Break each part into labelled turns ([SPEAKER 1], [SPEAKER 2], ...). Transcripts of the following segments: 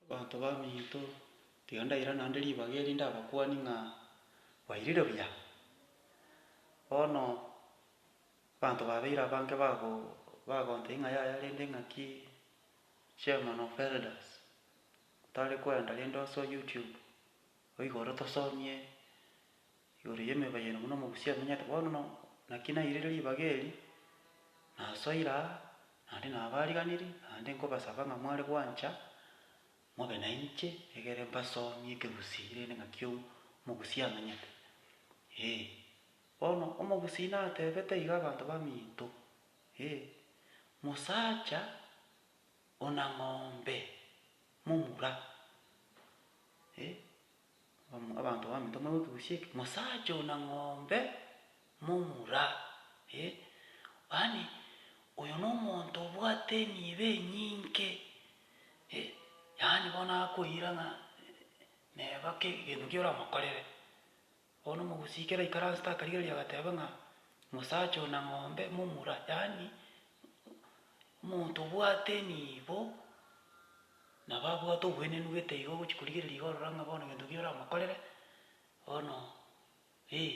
[SPEAKER 1] Abanto baminto, tiga ndaira naende ribaga eri ndabakwanie ng'a bairire buya. Bono abanto babeire abange bago bagonteba ing'a yaya rende ng'aki chairman of elders otare kwenda rende ase YouTube oigoro tosomie Igoro y'emeba y'ene buna omogusii amenyete bono no, naki nairire ribaga eri, nasoire aa, naende nabaariganirie, naende nkobasaba ng'a mware gwancha mobe nainche egere mbasomie ekegusii rende ng'a ki omogusii amenyete. Ee, bono omogusii natebete iga abanto baminto, ee, Mosacha ona ng'ombe momura, ee, Abanto bamete omorero bw'ekegusi eke, mosacha oyo na ng'ombe momura, eh, yaani oyo nomonto obwate emiibo enyinge, eh, yaani bono akoira ng'a neba ake egento ekiya oramokorere. Bono omogusi ekero aikaransete akarigereria agateba ng'a mosacha oyo na ng'ombe momura, yaani omonto obwate emiibo. Na babwate obwenenu gete iga ogochia korigereria iga orora ng'a bono gento ki oramokorere, bono, ee,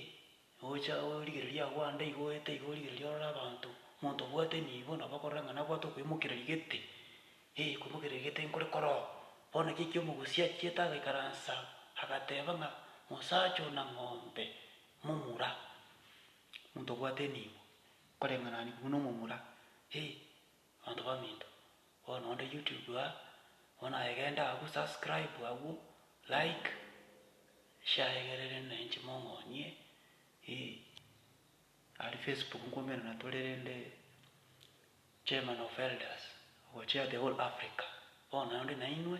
[SPEAKER 1] gocha origereria agwo ande iga oete iga origereria orore abanto, omonto obwate enibo nabo okorora ng'a nabwate okwemokereria gete, ee, okwemokereria gete nkore kore oo. Bono ekio ekiomogusi achiete agaikaransa, agateba ng'a mosacha ona ng'ombe momura, omonto obwate enibo, koreng'anani kobua nomomura, ee. Abanto baminto, bono onde YouTube aa, bono aye genda agwo subscribe agwo, like, share egerere ne inche mong'onyie, eh. Aria Facebook nkoimerana tore rende chairman of elders, ogochia the whole Africa, bono onde nainwe.